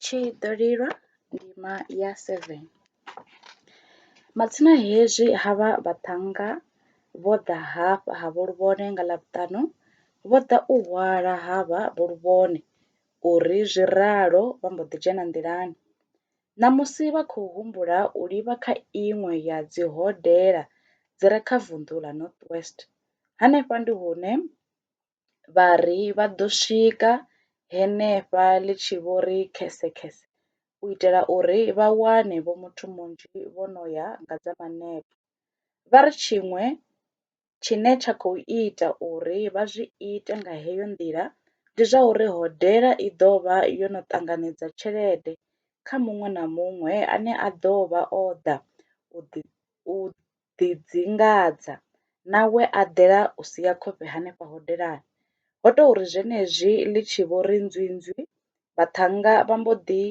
Tshi ḓo lilwa ndima ya seven, matsina hezwi ha vha vhaṱhannga vho ḓa hafha ha vho luvhone nga ḽavhutanu vho ḓa u hwala ha vha vho luvhone uri zwi ralo vha mbo ḓi dzhena nḓilani ṋamusi vha khou humbula u livha kha iṅwe ya dzi hodela dzi re kha vunḓu ḽa north west hanefha ndi hune vha ri vha ḓo swika henefha ḽi tshi vho ri khesekhese u itela uri vha wane vho muthu munzhi vho no ya nga dza manepo. Vha ri tshiṅwe tshine tsha khou ita uri vha zwi ite nga heyo nḓila ndi zwa uri hodela i ḓo vha yo no ṱanganedza tshelede kha muṅwe na muṅwe ane a ḓo vha o ḓa u ḓi u ḓidzingadza na we a ḓela u sia khofhe henefha hodelani. Ho tou ri zwenezwi ḽi tshi vho ri nzwinzwi, vhaṱhannga vha mbo ḓi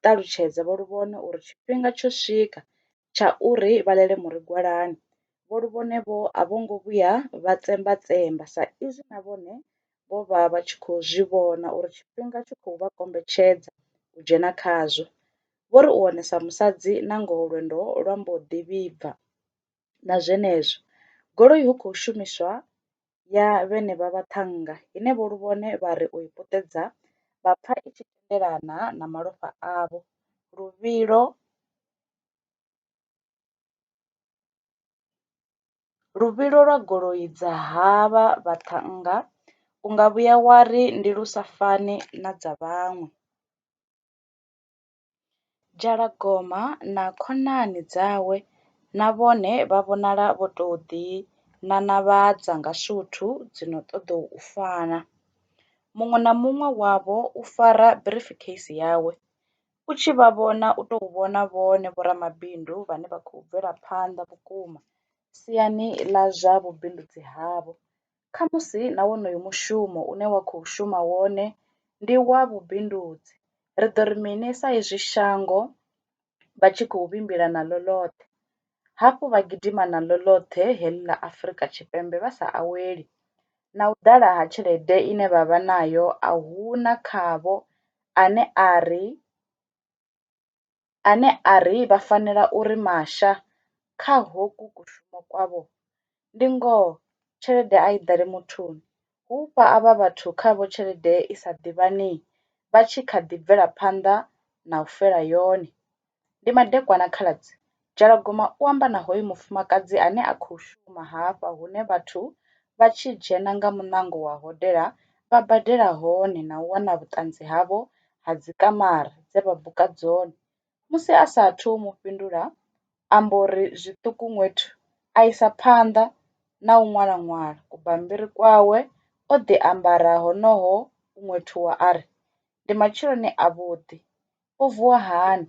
ṱalutshedza Vho Luvhone uri tshifhinga tsho swika tsha uri vha ḽele murigwalani. Vho Luvhone-vho a vho ngo vhuya vha tsembatsemba sa izwi na vhone vho vha vha tshi khou zwi vhona uri tshifhinga tshi khou vha kombetshedza u dzhena khazwo. Vho ri u onesa musadzi nangoho lwendo lwa mbo ḓi vhibva. Na zwenezwo, goloi hu khou shumiswa ya vhenevha vhaṱhannga ine vho Luvhone vha ri u i puṱedza vha pfa i tshi tendelana na malofha avho luvhilo luvhilo lwa goloi dza havha vhaṱhannga u nga vhuya wa ri ndi lu sa fani na dza vhaṅwe. Dzhalagoma na khonani dzawe na vhone vha vhonala vho tou ḓinanavhadza nga suthu dzi no ṱoḓa u fana. Muṅwe na muṅwe wavho u fara briefcase yawe. U tshi vha vhona u tou vhona vhone vhoramabindu vhane vha khou bvela phanḓa vhukuma siani ḽa zwa vhubindudzi havho. Khamusi na wonoyo mushumo une wa khou shuma wone ndi wa vhubindudzi. Ri ḓo ri mini sa izwi shango vha tshi khou vhimbila naḽo ḽoṱhe, hafhu vha gidima naḽo ḽoṱhe heḽi ḽa Afrika Tshipembe vha sa aweli? Na u ḓala ha tshelede ine vha vha nayo a hu na khavho ane a ri. ane a ri vha fanela u ri masha kha hoku kushumo kwavho, ndi ngoho tshelede a i ḓale muthuni, hu u fha avha vhathu khavho tshelede i sa ḓivhanei vha tshi kha ḓi bvela phanḓa na u fela yone. Ndi madekwana khaladzi Dzhalagoma u amba na hoyu mufumakadzi ane a khou shuma hafha hune vhathu vha tshi dzhena nga muṋango wa hodela vha badela hone na u wana vhuṱanzi havho ha dzi kamara dze vha buka dzone. Musi a sa athu u mu fhindula amba uri zwiṱuku ṅwethu a isa phanḓa na u ṅwala ṅwala ku bammbiri kwawe o ḓi ambara honoho ṅwethuwa ari ndi matsheloni a vhuḓi u vuwa hani.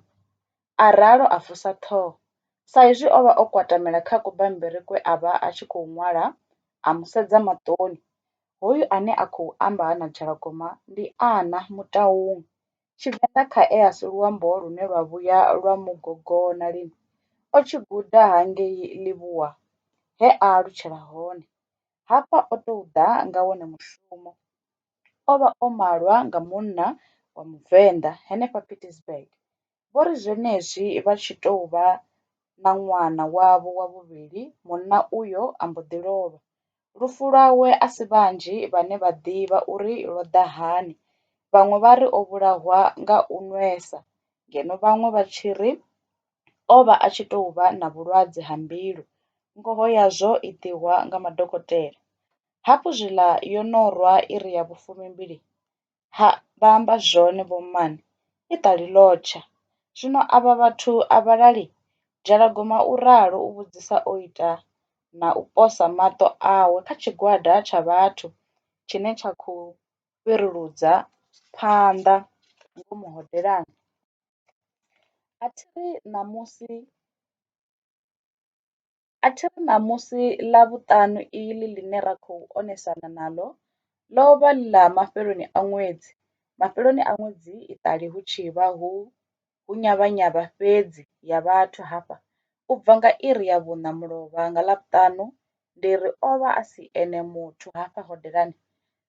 a ralo a vusa ṱhoho. Sa izwi o vha o kwatamela kha kubammbiri kwe a vha a tshi kouku ṅwala, a mu sedza maṱoni. Hoyu ane a khou amba ha na Dzhalagoma ndi Ana Mutaung. Tshivenḓa khae a si luambo lune lwa vhuya lwa mu gogona lini. O tshi guda hangei Livhuwa he a alutshela hone. Hafha o tou ḓa nga wone mushumo. O vha o malwa nga munna wa Muvenḓa henefha Pietersburg. vho ri zwenezwi vha tshi tou vha na ṅwana wavho wa vhuvhili, munna uyo a mbo ḓi lovha. Lufu lwawe a si vhanzhi vhane vha ḓivha uri lwo ḓa hani, vhaṅwe vha ri o vhulahwa nga u nwesa ngeno vhaṅwe vha tshi ri o vha a tshi tou vha na vhulwadze ha mbilu, ngoho yazwo i ḓihwa nga madokotela. Hafhu zwiḽa yo no rwa iri ya vhufumi-mbili, Ha, vha amba zwone vhommana, i ṱali ḽo tsha. Zwino avha vhathu a vha lali? Dzhalagoma u ralo u vhudzisa o ita na u posa maṱo awe kha tshigwada tsha vhathu tshine tsha khou fhiruludzwa phanḓa ngomu hodelani. A thi ri ṋamusi. A thi ri ṋamusi Ḽavhuṱanu iḽi ḽine ra khou onesana naḽo ḽo vha ḽi ḽa mafheloni a ṅwedzi, mafheloni a ṅwedzi iṱali hu tshi vha hu nyavhanyavha fhedzi ya vhathu hafha. U bva nga iri ya vhuṋa mulovha nga Ḽavhuṱanu, ndi ri o vha a si ene muthu hafha hodelani.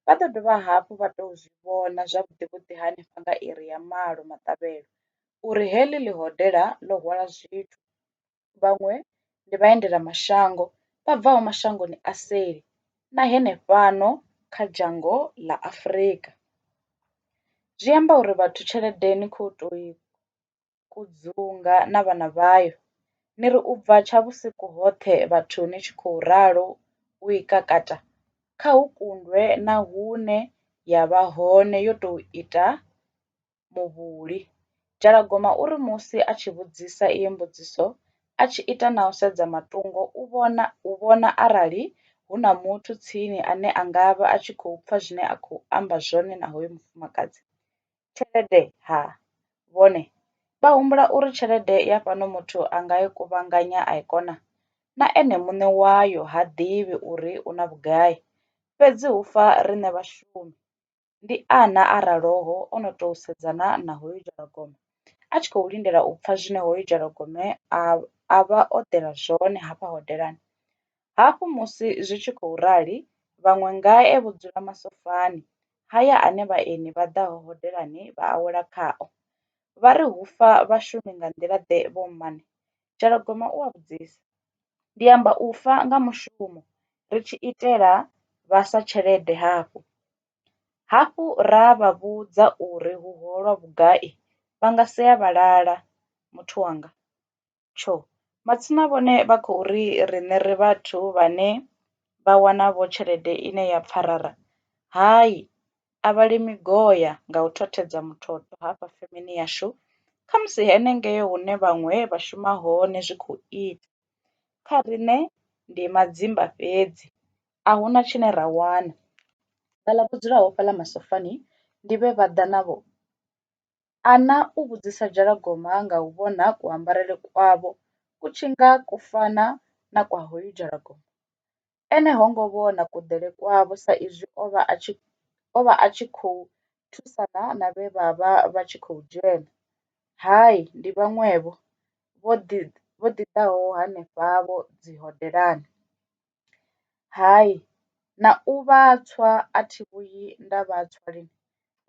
Vha ḓo dovha hafhu vha tou zwi vhona zwavhuḓi-vhuḓi hanefha nga iri ya malo maṱavhelo uri heḽi ḽi hodela ḽo hwala zwithu. vhaṅwe ndi vhaendela mashango vha bvaho mashangoni a seli na henefhano kha dzhango ḽa Afurika. Zwi amba uri vhathu tshelede ni kho to i kudzunga na vhana vhayo ni ri ubva tsha vhusiku hoṱhe vhathu ni tshi khou ralo u i kakata kha hu kundwe na huṋe ya vha hone yo to ita muvhuli. Dzhalagoma u ri musi a tshi vhudzisa iyi mbudziso a tshi ita na u sedza matungo u vhona u vhona arali hu na muthu tsini ane a nga vha a tshi khou pfha zwine a khou amba zwone na hoyo mufumakadzi. Tshelede ha, vhone vha humbula uri tshelede ya fhano muthu a nga i kuvhanganya a i kona? Na ene muṋe wayo ha ḓivhi uri u na vhugai. Fhedzi hu fa riṋe vhashumi. ndi ana a raloho o no tou sedzana na hoyu dzhalagoma a tshi khou lindela u pfha zwine hoyu dzhalagome a a vha o ḓela zwone hafha hodelani. Hafhu musi zwi tshi khou rali vhaṅwe ngae vho dzula masofani ha ya ane vhaeni vha ḓaho hodelani vha awela khao vha ri hufha vhashumi nga nḓila ḓe vho mmane Dzhalagoma u a vhudzisa, ndi amba u fa nga mushumo ri tshi itela vhaswa tshelede hafhu hafhu ra vha vhudza uri hu holwa vhugai vha nga si ya vha lala. Muthu wanga, tsho! Matsina vhone vha khou ri riṋe ri vhathu vhane vha wana vho tshelede ine ya pfarara? Hai! a vha li migoya nga u thothedza muthotho hafha femeni yashu khamusi henengei hune vhaṅwe vha shuma hone zwi khou ita. Kha riṋe ndi madzimba fhedzi a hu na tshine ra wana, vhaḽa vho dzulaho fhaḽa masofani ndi vhe vha ḓa navho. Ana u vhudzisa dzhalagoma nga u vhona kuambarele kwavho ku tshi nga ku fana na kwa hoyu dzhalagoma. Ene ho ngo vhona kuḓele kwavho sa izwi o vha a tshi o vha a tshi khou thusana na vhe vha vha vha tshi khou dzhena. Hai, ndi vhaṅwevho, vho ḓi vho ḓi ḓaho hanefhavho dzihodelani. Hai, na u vha tswa a thi vhuyi nda vha tswa lini,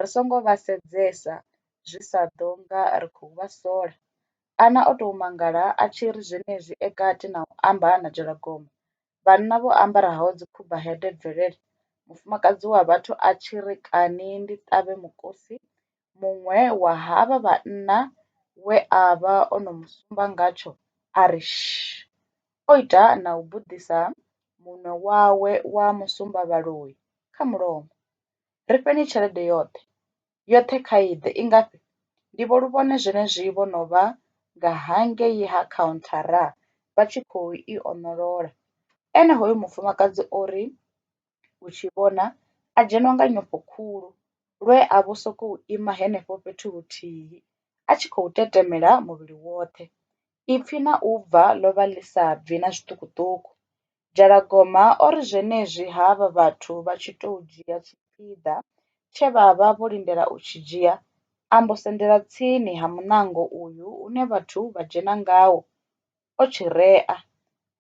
ri songo vha sedzesa zwi sa ḓo nga ri khou vha sola. Ana o tou mangala a tshi ri zwenezwi e kati na u amba a anetshela gomba. Vhanna vho ambaraho dzikhubahede bvelele, mufumakadzi wa vhathu a tshi ri kani ndi ṱavhe mukosi, muṅwe wa havha vhanna we a vha o no mu sumba ngatsho a ri shh, o ita na u buḓisa munwe wawe wa musumbavhaloi kha mulomo. Ri fheni tshelede yoṱhe, yoṱhe kha i ḓe. I ngafhi? Ndivho lu vhone zwenezwi vho no vha nga hangei ha khauntharra vha tshi khou i oṋolola. Ene hoyo mufumakadzi o ri u tshi vhona a dzhenwa nga nyofho khulu lwe a vho sokou ima henefho fhethu huthihi a tshi khou tetemela muvhili woṱhe. Ipfi na u bva ḽo vha ḽi sa bvi na zwiṱukuṱuku. Dzhalagoma o ri zwenezwi havha vhathu vha tshi tou dzhia tshipiḓa tshe vha vha vho lindela u tshi dzhia, a mbo sendela tsini ha muṋango uyu une vhathu vha dzhena ngawo, o tshi rea.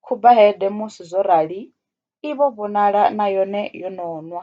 Khuba hede musi zwo rali i vho vhonala na yone yo no nwa.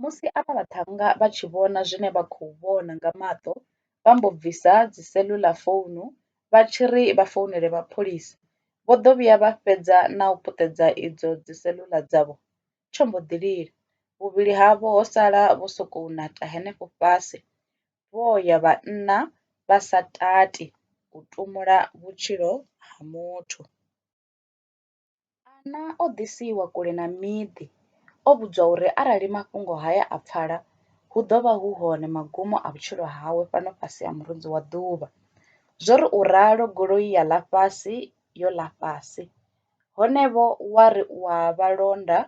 Musi avha vhaṱhannga vha tshi vhona zwine vha khou vhona nga maṱo vha mbo bvisa dzi cellular founu vha tshi ri vha founele mapholisa vho ḓo vhuya vha fhedza na u puṱedza idzo dzi cellular dzavho tsho mbo ḓi lila vhuvhili havho ho sala vho sokou neta henefho fhasi vho ya vhanna vha sa tati u tumula vhutshilo ha muthu. Ana o ḓisiwa kule na miḓi, o vhudzwa uri arali mafhungo haya a pfala, hu ḓo vha hu hone magumo a vhutshilo hawe fhano fhasi ha murunzi wa ḓuvha. Zwo ri u ralo goloi ya ḽa fhasi yo ḽa fhasi. Hone-vho wa ri u a vha londa,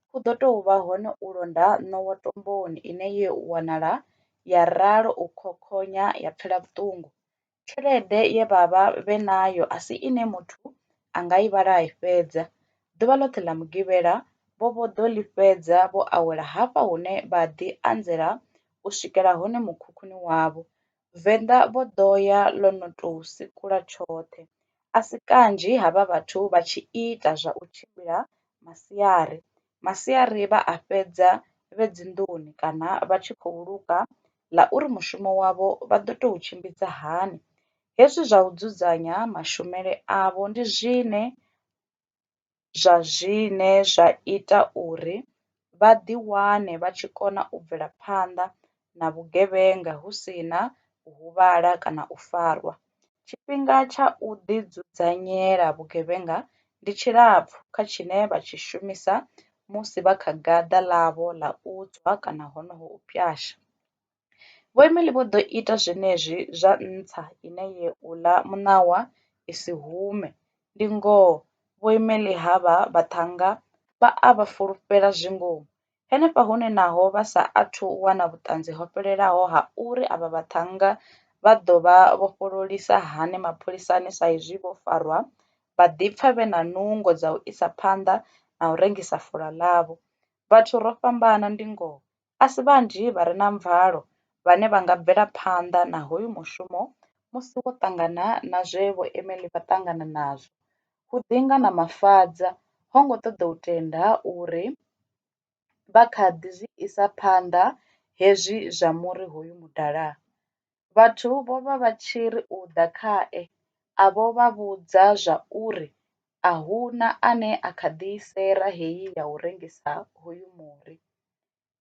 hu ḓo tou vha hone u londa ṋowa tomboni ine ye u wanala ya ralo u khokhonya ya pfela vhuṱungu. tshelede ye vha vha vhe nayo a si ine muthu a nga i vhala a i fhedza. Ḓuvha ḽoṱhe ḽa Mugivhela, vho vho ḓo ḽi fhedza vho awela hafha hune vha ḓi anzela u swikela hone mukhukhuni wavho. Venḓa vho ḓo ya ḽo no tou sikula tshoṱhe. A si kanzhi havha vhathu vha tshi ita zwa u tshimbila masiari. masiari vha a fhedza vhe dzinḓuni kana vha tshi khou luga ḽa uri mushumo wavho vha ḓo tou tshimbidza hani. Hezwi zwa u dzudzanya mashumele avho ndi zwine zwa zwine zwa ita uri vha ḓiwane vha tshi kona u bvela phanḓa na vhugevhenga hu si na u huvhala kana u farwa. Tshifhinga tsha u ḓidzudzanyela vhugevhenga ndi tshilapfu kha tshine vha tshi shumisa musi vha kha gaḓa ḽavho ḽa u tswa kana honoho u pwasha. Vho Emily vho ḓo ita zwenezwi zwa nṱha ine ye u ḽa muṋawa i si hume. Ndi ngoho, Vho Emily ha vha vhaṱhannga vha a vha fulufhela zwi ngomu, Henefha hune naho vha sa athu u wana vhuṱanzi ho fhelelaho ha uri avha vhaṱhannga vha ḓo vha vhofhololisa hani mapholisani sa izwi vho farwa, vha ḓipfa vhe na nungo dza u isa phanḓa na u rengisa fulo ḽavho. Vhathu ro fhambana ndi ngoho, a si vhanzhi vha re na mvalo vhane vha nga bvela phanḓa na hoyu mushumo musi vho ṱangana na zwe vho Emily vha ṱangana nazwo, hu ḓi nga na mafadza ho ngo ṱoḓa u tenda uri vha kha ḓi zwi isa phanḓa hezwi zwa muri hoyu mudala. Vhathu vho vha vha tshi ri u ḓa khae a vho vha vhudza zwa uri a hu na ane a kha ḓi sera heyi ya u rengisa hoyu muri.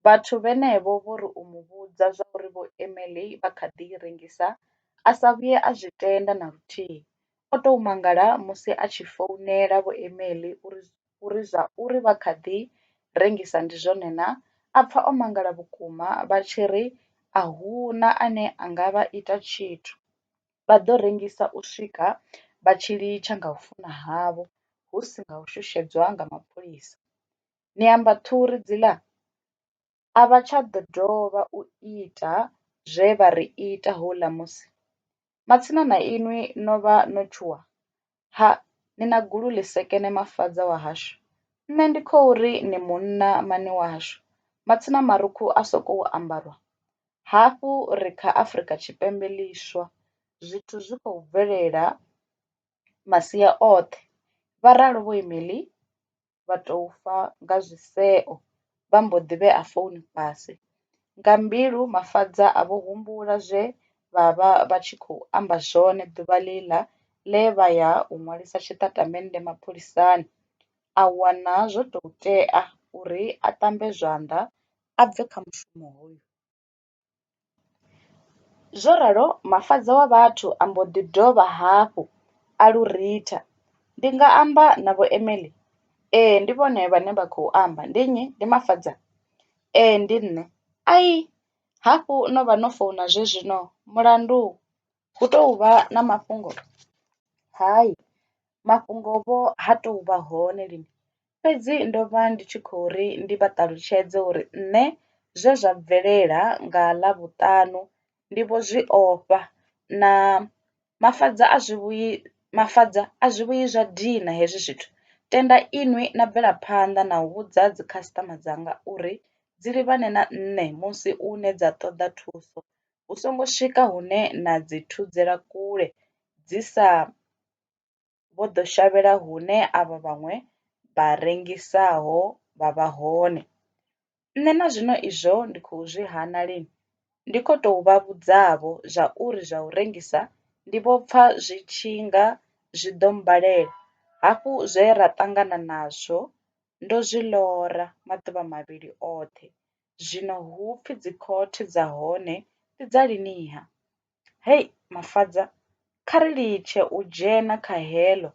Vhathu vhenevho vho ri u mu vhudza zwauri Vho Emely vha kha ḓi i rengisa, a sa vhuye a zwi tenda na luthihi. O tou mangala musi a tshi founela Vho Emely uri zwa uri vha kha ḓi rengisa ndi zwone na, a pfa o mangala vhukuma vha tshi ri a hu na ane a nga vha ita tshithu, vha ḓo rengisa u swika vha tshi litsha nga u funa havho hu si nga u shushedzwa nga mapholisa. ni amba ṱhuri dziḽa? A vha tsha ḓo dovha u ita zwe vha ri ita houḽa musi. Matsina na inwi no vha no tshuwa? Ha, ni na gulu ḽi sekene mafadza wahashu. Nṋe ndi khou ri ni munna mani wahashu, matsina marukhu a sokou ambarwa. Hafhu ri kha Afrika Tshipembe ḽiswa, zwithu zwi khou bvelela masia oṱhe, vha ralo Vho Emily vha tou fa nga zwiseo vha mbo ḓi vhea founu fhasi. Nga mbilu Mafadza a vho humbula zwe vha vha vha tshi khou amba zwone ḓuvha ḽiḽa ḽe vha ya u ṅwalisa tshitatamennde mapholisani, a wana zwo tou tea uri a ṱambe zwanḓa a bve kha mushumo hoyu. Zwo ralo Mafhaṱa wa vhathu a mbo ḓi dovha hafhu a lu ritha. Ndi nga amba na vho Emily? Ee, ndi vhone vhane vha khou amba. Ndi nnyi? Ndi Mafhaṱa? Ee, ndi nṋe. Ai, hafhu no vha no founa zwe zwino. Mulandu? Hu tou vha na mafhungo, hai mafhungo vho ha tou vha hone lini, fhedzi ndo vha ndi tshi khou ri ndi vha ṱalutshedze uri nṋe zwe zwa bvelela nga Ḽavhuṱanu ndi vho zwi ofha na Mafadza a zwi vhuyi, Mafadza a zwi vhuyi zwa dina hezwi zwithu. Tenda inwi na bvela phanḓa na u vhudza dzi customer dzanga uri dzi livhane na nṋe musi une dza ṱoḓa thuso hu songo swika hune na dzi thudzela kule dzi sa vho ḓo shavhela hune avha vhaṅwe vha rengisaho vha vha hone. Nṋe na zwino izwo ndi khou zwi hana lini ndi kho to vha vhudza vho zwa uri zwa u rengisa ndi vho pfa zwi tshi nga zwi ḓo mmbalela hafhu zwe ra ṱangana nazwo ndo zwi ḽora maḓuvha mavhili oṱhe zwino hu pfi dzi khothe dza hone ndi dza lini-ha? Hei Mafadza, kha ri litshe u dzhena kha heḽo.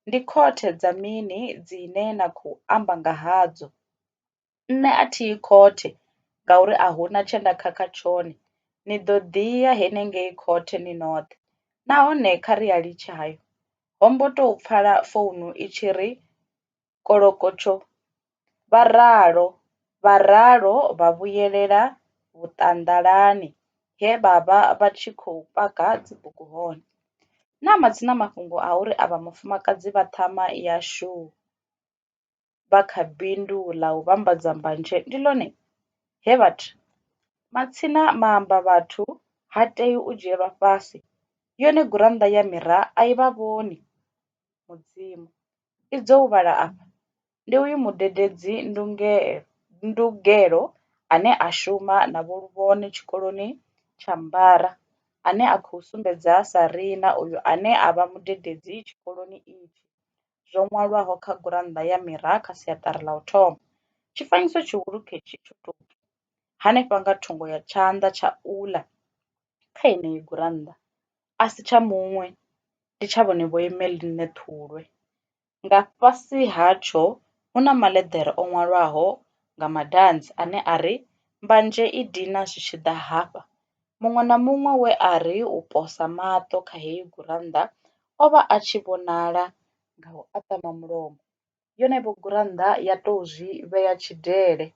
Ndi khothe dza mini dzine na khou amba nga hadzo? Nṋe a thi yi khothe ngauri a hu na tshe nda khakha tshone. Ni ḓo ḓi ya henengei khothe ni noṱhe nahone kha ri a litshe hayo. Ho mbo tou pfala founu i tshi ri, kolokotsho, vha ralo vha ralo vha vhuyelela vhuṱanḓalani he vha vha vha tshi khou paka dzibugu hone. Na matsina mafhungo a uri avha vhafumakadzi vha ṱhama ya shoo vha kha bindu ḽa u vhambadza mbanzhe ndi ḽone he vha ri, Matsina maambavhathu ha tei u dzhielwa fhasi, yone gurannḓa ya Mirror a i vha vhoni. Mudzimu. i dzo u vhala afha, ndi uyu mudededzi ndungelo ndugelo ane a shuma na Vho Luvhone tshikoloni tsha Mbara ane a khou sumbedza sa riṋa uyu ane a vha mudededzi tshikoloni itshi. Zwo ṅwalwaho kha gurannḓa ya Mira kha siaṱari ḽa u thoma. Tshifanyiso tshihulu khetshi tsho tou bva hanefha nga thungo ya tshanḓa tsha uḽa. kha yeneyi gurannḓa a si tsha muṅwe, ndi tsha vhone vho Emeline Thulwe. Nga fhasi hatsho hu na maḽeḓere o ṅwalwaho nga madanzi ane a ri, Mbanzhe i dina zwi tshi ḓa hafha. Muṅwe na muṅwe we a ri u posa maṱo kha heyi gurannḓa o vha a tshi vhonala nga u aṱama mulomo. yone vho gurannḓa ya tou zwi vhea tshidele.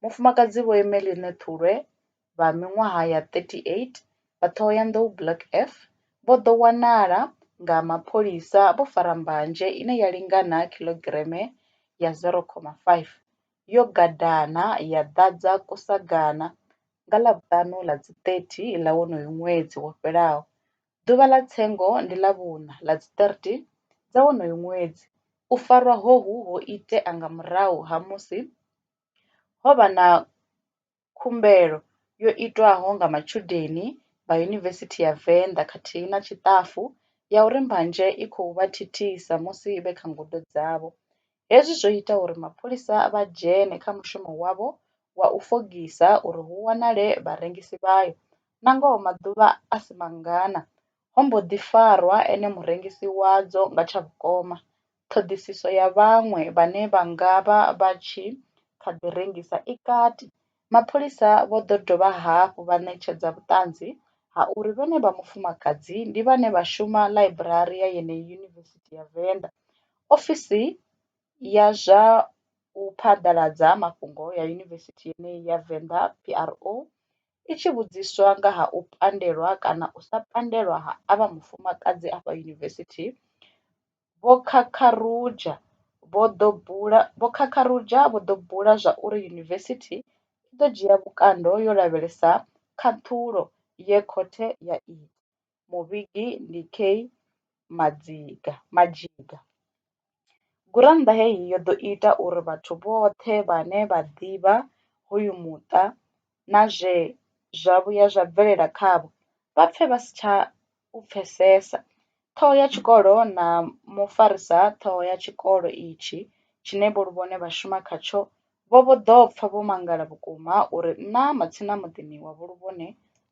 Mufumakadzi Vho Emeline Thulwe vha miṅwaha ya 38 vha Thohoyandou Block F vho ḓo wanala nga mapholisa vho fara mbanzhe ine ya lingana khilogireme ya 0,5 yo gadana ya ḓadza kusagana nga Ḽavhuṱanu ḽa dzi 30 ḽa wonoyu ṅwedzi wo fhelaho. Ḓuvha ḽa tsengo ndi ḽa vhuṋa ḽa dzi 13 dza wonoyo ṅwedzi. U farwa hohu ho itea nga murahu ha musi ho vha na khumbelo yo itwaho nga matshudeni vha Yunivesithi ya Venḓa khathihi na tshiṱafu ya uri mbanzhe i khou vha thithisa musi vhe kha ngudo dzavho. Hezwi zwo ita uri mapholisa vha dzhene kha mushumo wavho wa u fogisa uri hu wanale vharengisi vhayo. Nangoho maḓuvha a si mangana, ho mbo ḓi farwa ene murengisi wadzo nga tsha vhukoma. Ṱhoḓisiso ya vhaṅwe vhane vha nga vha vha tshi kha ḓi rengisa i kati. Mapholisa vho ḓo dovha hafhu vha ṋetshedza vhuṱanzi ha uri vhenevha vhafumakadzi ndi vhane vha shuma ḽaiburari ya yeneyi Yunivesithi ya Venḓa, ofisi ya zwa u phaḓaladza mafhungo ya yunivesithi yeneyi ya Venḓa, PRO, i tshi vhudziswa nga ha u pandelwa kana u sa pandelwa ha avha vhafumakadzi afha yunivesithi, Vho Kakarudzha vho ḓo bula Vho Kakarudzha vho ḓo bula zwa uri yunivesithi i ḓo dzhia vhukando yo lavhelesa khaṱhulo ye khothe ya i ita. Muvhigi ndi Kay Madziga Madzhiga. Gurannḓa heyi yo ḓo ita uri vhathu vhoṱhe vhane vha ḓivha hoyu muṱa na zwe zwa vhuya zwa bvelela khavho vha pfe vha si tsha u pfesesa. Ṱhoho ya tshikolo na mufarisa ṱhoho ya tshikolo itshi tshine vho Luvhone vha shuma khatsho vho vho ḓo pfa vho mangala vhukuma uri nṋa matsina muḓini wa Vho Luvhone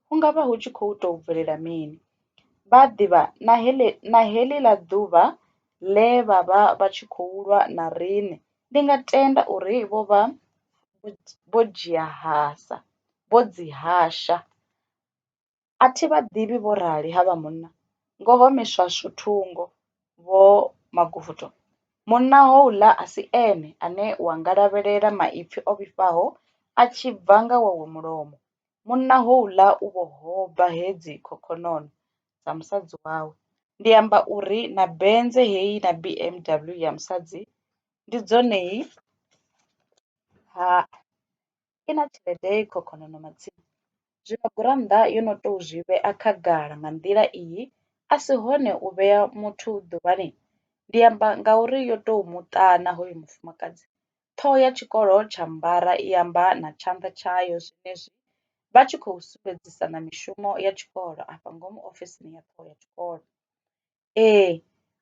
hu ngavha hu tshi khou tou bvelela mini. Vha ḓivha na heḽi na heḽiḽa ḓuvha ḽe vha vha vha tshi khou lwa na riṋe, ndi nga tenda uri vho vha vho dzhia hasa, vho dzi hasha. A thi vha ḓivhi vho rali havha munna, ngoho miswaswo thungo vho Magoda. Munna houḽa a si ene ane wa nga lavhelela maipfi o vhifhaho a tshi bva nga wawe mulomo. Munna houḽa u vho hoba hedzi khokhonono. dza musadzi wawe ndi amba uri na Benz heyi na B_M_W ya musadzi ndi dzone ha i na tshelede i khokhonono matsina zwino gurannḓa yo no to zwi vhea khagala nga nḓila iyi a si hone u vhea muthu ḓuvhani ndi amba ngauri yo to muṱana hoyo mufumakadzi Ṱhoho ya tshikolo tsha Mbara i amba na tshanḓa tshayo zwenezwi vha tshi khou sumbedzisana mishumo ya tshikolo afha ngomu ofisini ya ṱhoho ya tshikolo. Ee,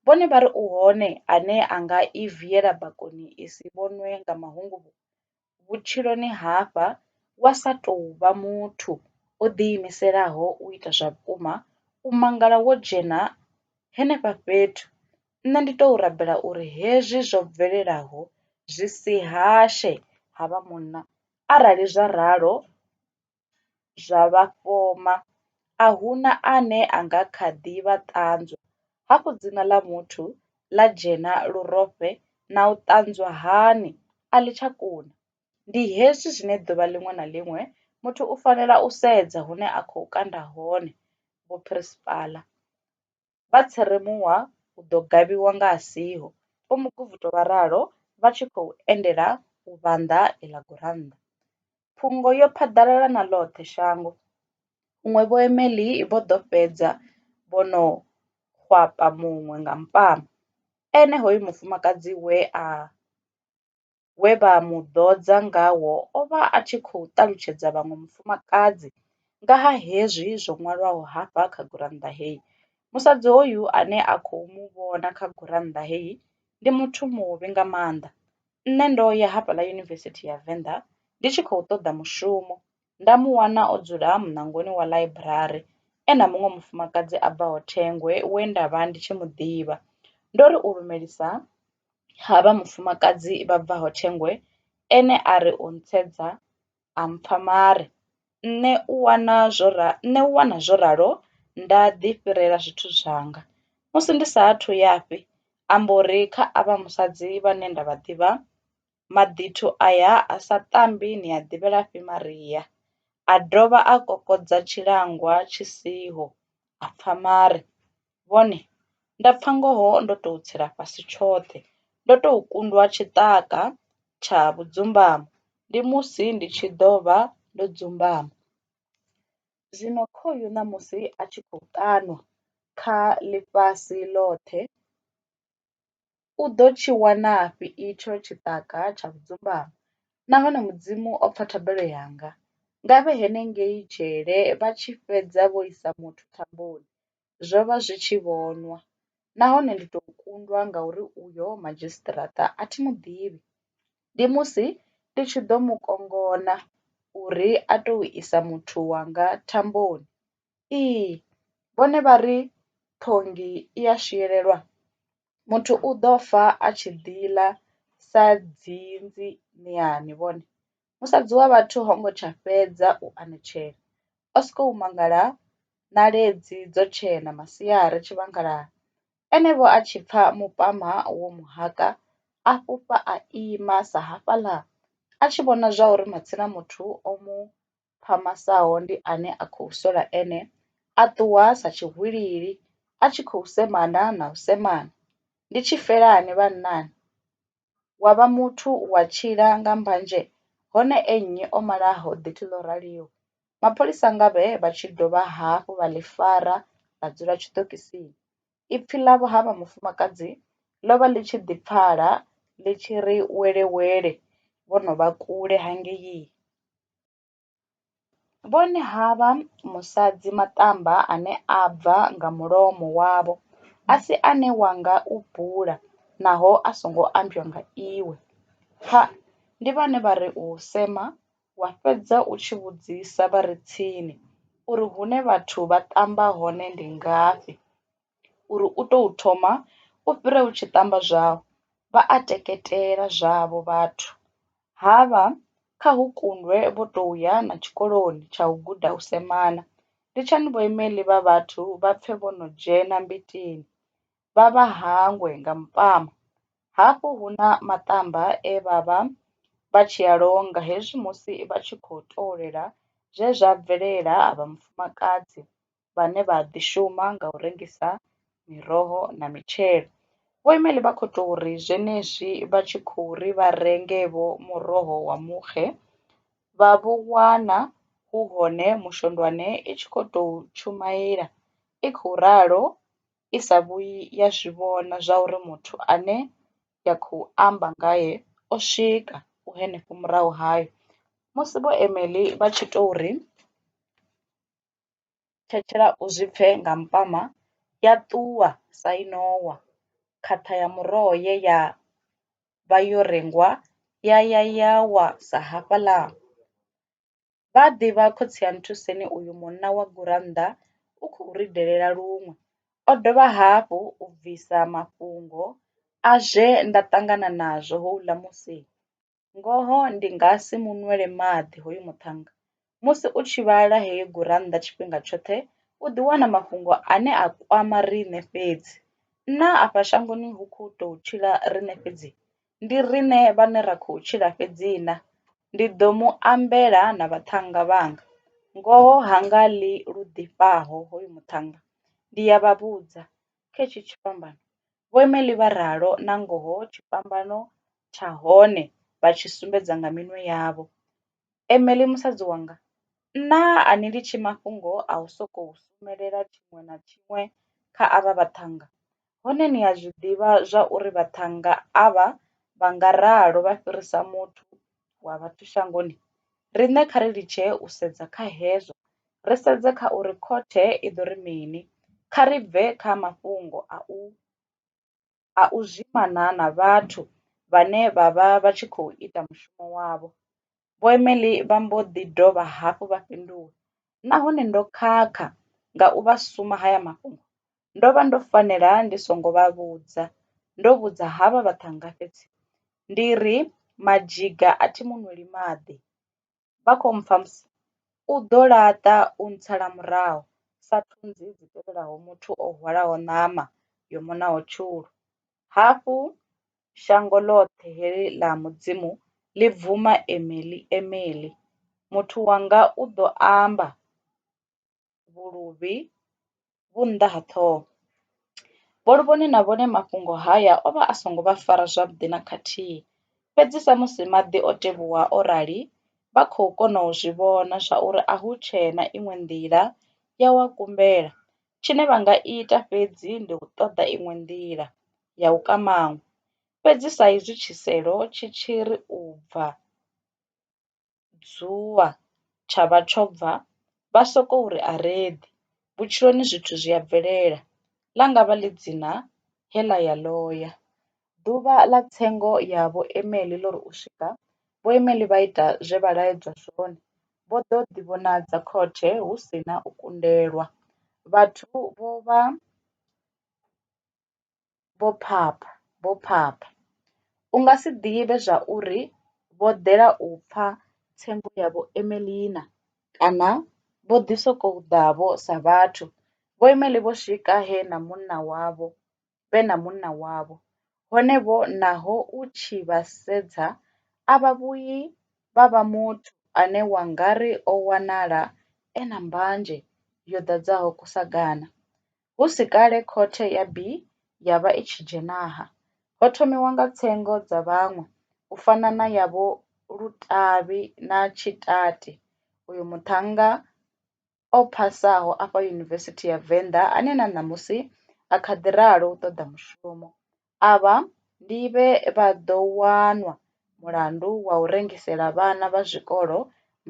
vhone vha ri u hone ane a nga i viela bakoni i si vhonwe nga mahunguvhu. Vhutshiloni hafha wa sa tou vha muthu o ḓiimiselaho u ita zwa vhukuma, u mangala wo dzhena henefha fhethu Nṋe ndi tou rabela uri hezwi zwo bvelelaho zwi si hashe ha vha munna, arali zwa ralo zwa vha fhoma, a hu na ane a nga kha ḓi vha ṱanzwa, hafhu dzina ḽa muthu ḽa dzhena lurofhe na u ṱanzwa hani? A ḽi tsha kuna. Ndi hezwi zwine ḓuvha ḽiṅwe na ḽiṅwe muthu u fanela u sedza hune a khou kanda hone vhuphirisipala. vha tshi ri muwa u ḓo gavhiwa nga a siho, Vho Muguvhuto vha ralo vha tshi khou endela u vhanḓa iḽa gurannḓa. Phungo yo phaḓalala na ḽoṱhe shango, huṅwe Vho Emely vho ḓo fhedza vho no hwapa muṅwe nga mpama, ene hoyu mufumakadzi we a. we vha mu ḓodza ngawo o vha a tshi khou ṱalutshedza vhaṅwe mufumakadzi nga ha hezwi zwo ṅwalwaho hafha kha gurannḓa heyi. Musadzi hoyu ane a khou mu vhona kha gurannḓa heyi ndi muthu muvhi nga maanḓa. Nṋe ndo ya hafhaḽa Yunivesithi ya Venḓa ndi tshi khou ṱoḓa mushumo nda mu wana o dzula muṋangoni wa ḽaiburari e na muṅwe mufumakadzi a bvaho Thengwe we nda vha ndi tshi mu ḓivha. Ndo ri u lumelisa ha vha mufumakadzi vha bvaho Thengoe ene a ri u ntshedza a mpfa mare. Nṋe u wana zwo ra, nṋe u wana zwo ralo nda ḓi fhirela zwithu zwanga. Musi ndi sa athu ya fhi a mbo ri kha avha musadzi vhane nda vha ḓivha, Maḓithu aya a sa tambi ni a ḓivhelafhi Maria? A dovha a kokodza tshilangwa tshi siho, a pfa mare. vhone, nda pfa ngoho ndo tou tsela fhasi tshoṱhe, ndo tou kundwa tshiṱaka tsha vhudzumbamo, ndi musi ndi tshi ḓo vha ndo dzumbama. Zwino khoyu ṋamusi a tshi khou ṱanwa kha ḽifhasi ḽoṱhe, U ḓo tshi wanafhi itsho tshiṱaka tsha vhudzumbamo? Nahone Mudzimu o pfa thabelo yanga. Nga vhe henengei dzhele vha tshi fhedza vho isa muthu thamboni. Zwo vha zwi tshi vhonwa. Nahone ndi tou kundwa ngauri uyo madzhisiṱiraṱa a thi mu ḓivhi. Ndi musi ndi tshi ḓo mu kongona uri a tou isa muthu wanga thamboni. Ee vhone vha ri phonḓi i ya swielelwa muthu u ḓo fa a tshi ḓi ḽa sa dzinzi muyani vhone, musadzi wa vhathu ho ngo tsha fhedza u anetshela o soko u mangala ṋaledzi dzo tshena masiari tshivhangulani ene vho a tshi pfha mupama wo mu haka a fhufha a ima sa hafhaḽa a tshi vhona zwa uri matsina muthu o mu phamasaho ndi ane a khou sola ene, a ṱuwa sa tshihwilili a tshi khou semana na u semana. Ndi tshifelani vhannani? Wa vha muthu wa tshila nga mbanzhe hone e nnyi o malaho ḓithi ḽo raliho? Mapholisa ngavhe vha tshi dovha hafhu vha ḽi fara ḽa dzula tshiṱokisini. Ipfi ḽa vho ha vha mufumakadzi ḽo vha ḽi tshi ḓi pfala ḽi tshi ri wele wele vho no vha kule hangei. Vhone havha musadzi maṱamba ane a bva nga mulomo wavho a si ane wa nga u bula naho a songo ambiwa nga iwe. Pfa! Ndi vhane vha ri u sema wa fhedza u tshi vhudzisa vha re tsini uri hune vhathu vha ṱamba hone ndi ngafhi. uri u tou thoma u fhira u tshi ṱamba zwau, vha a teketela zwavho vhathu, ha vha kha hu kundwe vho tou ya na tshikoloni tsha u guda u semana. Litshani vhoimeli vha vhathu vha pfe vho no dzhena mbitini, vha vha hangwe nga mupama. Hafhu hu na maṱamba e vha vha vha tshi a longa hezwi musi vha tshi khou tovholela zwe zwa bvelela avha mufumakadzi. vhane vha ḓi shuma nga u rengisa miroho na mitshelo. Vho Imeli vha khou tou ri zwenezwi vha tshi khou ri vha renge vho muroho wa muxe vha vho wana hu hone mushondwane i tshi khou tou tshumaila i khou ralo i sa vhuyi ya zwi vhona zwa uri muthu ane ya khou amba ngae o swika u henefho murahu hayo. Musi vho Imeli vha tshi tou ri. thetshela u zwi pfe nga mpama, ya ṱuwa sa i no wa, khaṱha ya muroho ye ya vha yo rengwa ya ya ya wa sa hafhaḽa. Vha ḓivha khotsi ya Nthuseni uyu munna wa gurannḓa u khou ri delela luṅwe. O dovha hafhu u bvisa mafhungo a zwe nda ṱangana nazwo houḽa musi. Ngoho ndi nga si mu nwele maḓi hoyu muṱhannga. Musi u tshi vhala heyi gurannḓa tshifhinga tshoṱhe u ḓi wana mafhungo ane a kwama riṋe fhedzi. Naa afha shangoni hu khou tou tshila riṋe fhedzi? Ndi riṋe vhane ra khou tshila fhedzi na? Ndi ḓo mu ambela na vhaṱhannga vhanga. Ngoho ha nga ḽi lu ḓifhaho hoyu muṱhannga. Ndi ya vha vhudza, kha hetshi tshifhambano. Vho Emely vha ralo nangoho tshifhambano tsha hone vha tshi sumbedza nga minwe yavho. Emely musadzi wanga, Nṋa a ni litshi mafhungo a u sokou sumelela tshiṅwe na tshiṅwe kha avha vhaṱhannga, hone ni a zwi ḓivha zwa uri vhaṱhannga avha vha nga ralo vha fhirisa muthu. wa vhathu shangoni, riṋe kha ri litshe u sedza kha hezwo, ri sedze kha uri khothe i ḓo ri mini. Kha ri bve kha mafhungo a u a u zwimana na vhathu vhane vha vha vha tshi khou ita mushumo wavho. Vho Emely vha mbo ḓi dovha hafhu vha fhindula, Nahone ndo khakha nga u vha suma haya mafhungo, Ndo vha ndo fanela ndi songo vha vhudza ndo vhudza havha vhaṱhannga fhedzi ndi ri madzhiga a thi mu nweli maḓi vha kho mpfha musi u ḓo laṱa u ntsala murahu sa thunzi dzi tevhelaho muthu o hwalaho ṋama yo muṋaho tshulu. Hafhu shango ḽoṱhe heḽi ḽa Mudzimu ḽi bvuma Emeḽi, Emeḽi, muthu wanga u ḓo amba. vhuluvhi vhu nnḓa ha ṱhoho. Bolivhoni na vhone mafhungo haya o vha a songo vha fara zwavhuḓi na khathihi, fhedzi samusi maḓi o tevhuwa o rali, vha khou kona u zwi vhona zwauri a hu tshee na iṅwe nḓila ya u a kumbela. Tshine vha nga ita fhedzi ndi u ṱoḓa iṅwe nḓila ya u ka maṅwe. Fhedzi saizwi tshiselo tshi tshi ri u bva. dzuvha tsha vha tsho bva vha sokou ri a ri eḓi. Vhutshiloni zwithu zwi a bvelela, ḽa nga vha ḽi dzina he ḽa ya ḽo ya. Ḓuvha ḽa tsengo ya Vho Emely ḽo ri u swika, Vho Emely vha ita zwe vha laedzwa zwone, vho ḓo ḓivhonadza khothe hu si na u kundelwa. Vhathu vho vha vho phapha, vho phapha. U nga si ḓivhe zwa uri vho ḓela u pfa tsengo ya Vho Emelina kana vho ḓi sokou ḓa-vho sa vhathu. Vho Emely vho swika he na munna wavho, vhe na munna wavho. Hone vho naho u tshi vha sedza a vha vhuyi vha vha muthu ane wa nga ri o wanala e na mbanzhe yo ḓadzaho kusagana. Hu si kale khothe ya bi ya vha i tshi dzhenaha, ho thomiwa nga tsengo dza vhaṅwe, u fana na ya Vho Lutavhi na Tshitate, uyo muṱhannga o phasaho afha Yunivesithi ya Venḓa ane na ṋamusi a kha ḓi ralo u ṱoḓa mushumo. Avha ndi vhe vha ḓo wanwa mulandu wa u rengisela vhana vha zwikolo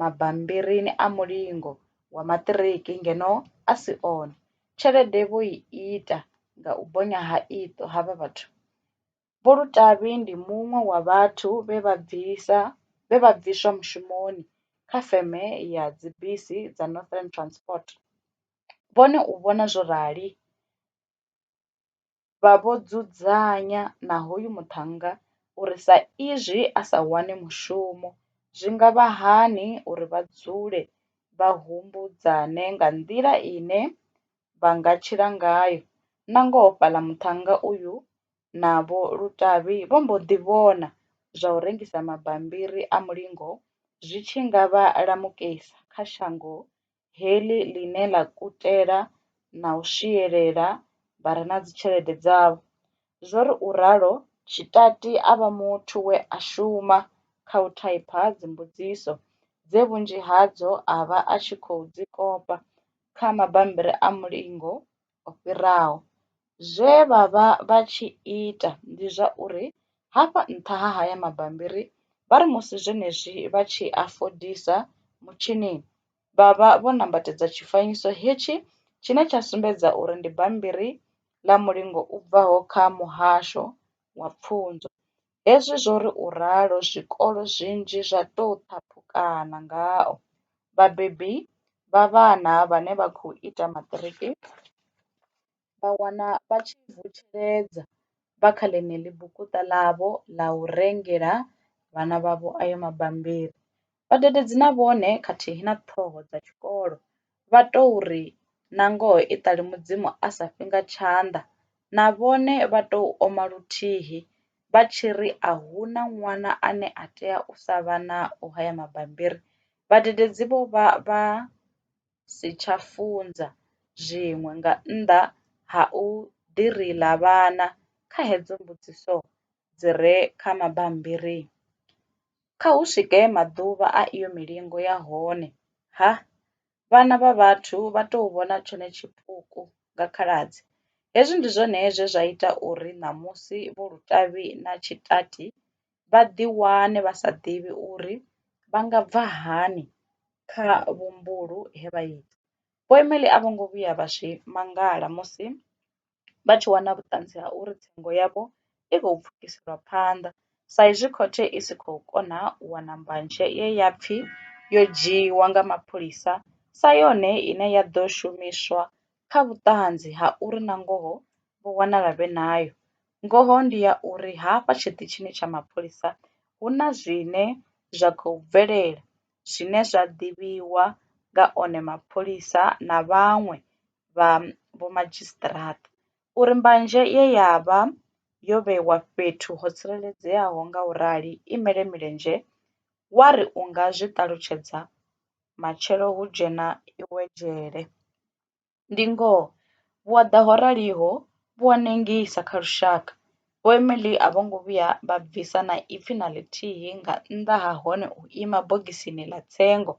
mabambiri a mulingo wa maṱiriki ngeno a si one. Tshelede vho i ita nga u bonya ha iṱo havha vhathu. Vho Lutavhi ndi muṅwe wa vhathu vhe vha bvisa vhe vha bviswa mushumoni kha feme ya dzibisi dza Northern Transport, vhone u vhona zwo rali. vha vho dzudzanya na hoyu muṱhannga uri sa izwi a sa wani mushumo, zwi nga vha hani uri vha dzule vha humbudzane nga nḓila ine vha nga tshila ngayo. Nangoho fhaḽa muṱhannga uyu na Vho Lutavhi vho mbo ḓi vhona zwa u rengisa mabambiri a mulingo zwi tshi nga vha lamukisa kha shango heḽi ḽine ḽa kutela na u swielela vha re na dzitshelede dzavho. Zwo ri u ralo, Tshitati a vha muthu we a shuma kha u thaipha dzimbudziso dze vhunzhi hadzo a vha a tshi khou dzi kopa kha mabammbiri a mulingo. o fhiraho. Zwe vha vha vha tshi ita ndi zwa uri hafha nṱha ha haya mabambiri vha ri musi zwenezwi vha tshi a fodisa mutshinini vha vha vho nambatedza tshifanyiso hetshi tshine tsha sumbedza uri ndi bammbiri ḽa mulingo u bvaho kha Muhasho wa Pfunzo. Hezwi zwo ri u ralo, zwikolo zwinzhi zwa tou ṱhaphukana ngao. Vhabebi vha vhana vhane vha khou ita maṱiriki vha wana vha tshi vutsheledza vha kha ḽeneḽi bukuṱa ḽavho ḽa u rengela vhana vhavho ayo mabambiri. Vhadededzi na vhone khathihi na ṱhoho dza tshikolo vha tou ri, Nangoho i ṱali Mudzimu a sa fhi nga tshanḓa. Na vhone vha tou oma luthihi vha tshi ri a hu na ṅwana ane a tea u sa vha nao haya mabambiri. Vhadededzi vho vha vha si tsha funza zwiṅwe nga nnḓa ha u ḓi ri lavhana kha hedzo mbudziso dzi re kha mabambiri. Kha hu swike maḓuvha a iyo milingo ya hone, ha! vhana vha vhathu vha tou vhona tshone tshipuku nga khaladzi. Hezwi ndi zwone zwe zwa ita uri ṋamusi Vho Lutavhi na Tshitati vha ḓiwane vha sa ḓivhi uri vha nga bva hani kha vhumbulu he vha ita. Vho Emily a vho ngo vhuya vha zwi mangala musi vha tshi wana vhuṱanzi ha uri tsengo yavho i khou pfukiswa phanḓa sa izwi khothe i si khou kona u wana mbanzhe ye ya pfi yo dzhiiwa nga mapholisa sa yone ine ya ḓo shumiswa kha vhuṱanzi ha uri nangoho vho wanala vhe nayo. Ngoho ndi ya uri hafha tshiṱitshini tsha mapholisa hu na zwine zwa khou bvelela zwine zwa ḓivhiwa nga one mapholisa na vhaṅwe vha vhomadzhisiṱiraṱa uri mbanzhe ye ya vha yo vhewa fhethu ho tsireledzeaho nga u rali i mele milenzhe, wa ri u nga zwi ṱalutshedza, Matshelo hu dzhena iwe dzhele. Ndi ngoho, vhuaḓa ho raliho vhu a nengisa kha lushaka. Vho Emily a vho ngo vhuya vha bvisa na ipfi na ḽithihi nga nnḓa ha hone u ima bogisini ḽa tsengo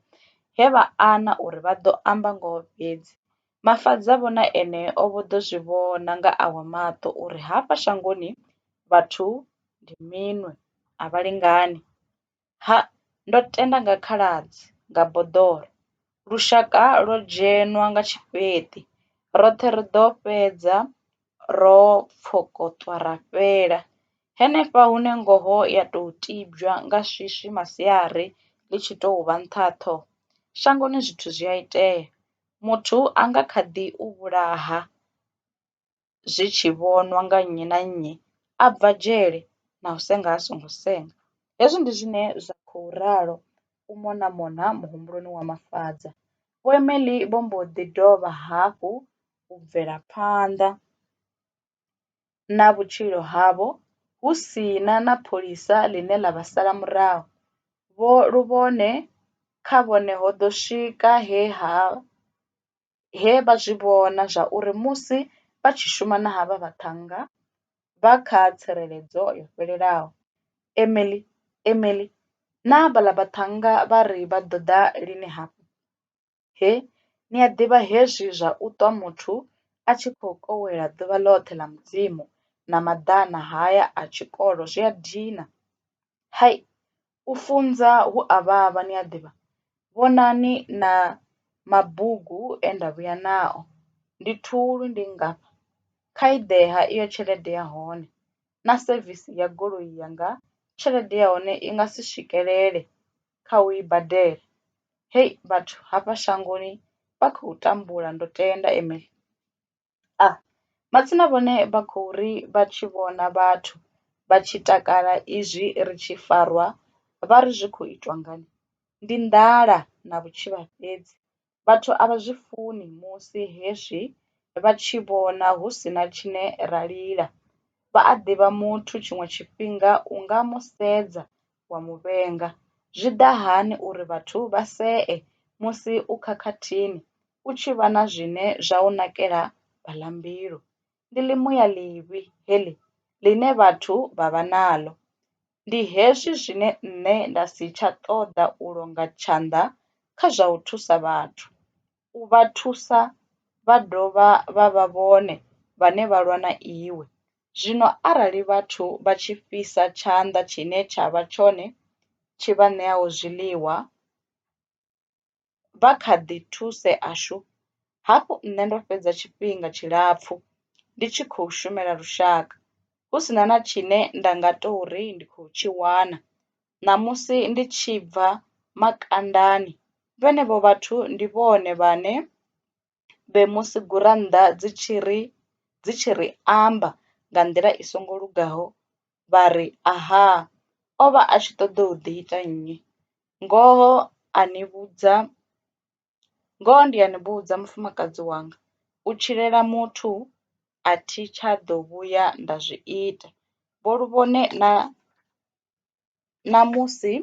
he vha ana uri vha ḓo amba ngoho fhedzi. Mafadza vho na ene o vho ḓo zwi vhona nga awe maṱo uri hafha shangoni vhathu ndi minwe, a vha lingani. Ha, ndo tenda nga khaladzi, nga boḓoro. Lushaka lwo dzhenwa nga tshifheṱi, roṱhe ri ḓo fhedza ro pfokotwa ra fhela. Henefha hune ngoho ya tou tibywa nga swiswi masiari ḽi tshi tou vha nṱha ha ṱhoho, shangoni zwithu zwi a itea. Muthu a nga kha ḓi u vhulaha. zwi tshi vhonwa nga nnyi na nnyi a bva dzhele na u senga a songo senga. Hezwi ndi zwine zwa khou ralo u mona mona muhumbuloni wa Mafadza. Vho Emely vho mbo ḓi dovha hafhu u bvela phanḓa na vhutshilo havho hu si na na pholisa ḽine ḽa vha sala murahu. Vho luvhone kha vhone ho ḓo swika he ha he vha zwi vhona zwa uri musi vha tshi shuma na havha vhaṱhannga vha kha tsireledzo yo fhelelaho. Emily, Emily, Naa vhaḽa vhaṱhannga vha ri vha ḓo ḓa lini hafha? He, ni a ḓivha hezwi zwa u ṱwa muthu a tshi khou kowela ḓuvha ḽoṱhe ḽa Mudzimu na maḓana haya a tshikolo zwi a dina. Hai, U funza hu a vhavha ni a ḓivha, vhonani na mabugu e nda vhuya nao. Ndi thulu, ndi nngafha kha i ḓe ha iyo tshelede ya hone na sevisi ya goloi yanga tshelede ya hone i nga si swikelele kha u i badela. Hei vhathu hafha shangoni vha khou tambula ndo tenda Emily. A, Matsina vhone vha khou ri vha tshi vhona vhathu vha tshi takala izwi ri tshi farwa vha ri zwi khou itwa ngani? Ndi nḓala na vhutshivha fhedzi. Vhathu a vha zwi funi musi hezwi vha tshi vhona hu si na tshine ra lila. Vha a ḓivha muthu tshiṅwe tshifhinga u nga mu sedza wa mu vhenga. Zwi ḓa hani uri vhathu vha see musi u khakhathini u tshi vha na zwine zwa u nakela baḽambilu? Ndi ḽimuya ḽivhi heḽi ḽine vhathu vha vha naḽo. Ndi hezwi zwine nṋe nda si tsha ṱoḓa u longa tshanḓa kha zwa u thusa vhathu. u vha thusa vha dovha vha vha vhone vhane vha lwa na iwe. Zwino arali vhathu vha tshi fhisa tshanḓa tshine tsha vha tshone tshi vha ṋeaho zwiḽiwa, vha kha ḓi thusea shu! Hafhu nṋe ndo fhedza tshifhinga tshilapfu ndi tshi khou shumela lushaka, hu si na na tshine nda nga tou ri ndi khou tshi wana. Ṋamusi ndi tshi bva makandani, vhenevho vhathu ndi vhone vhane vhe musi gurannḓa dzi tshi ri dzi tshi ri amba nga nḓila i songo lugaho vha ri aha o vha a tshi ṱoḓou ḓi ita nnyi. Ngoho a ni vhudza Ngoho ndi a ni vhudza mufumakadzi wanga u tshilela muthu a thi tsha ḓo vhuya nda zwi ita, vho Luvhone na ṋamusi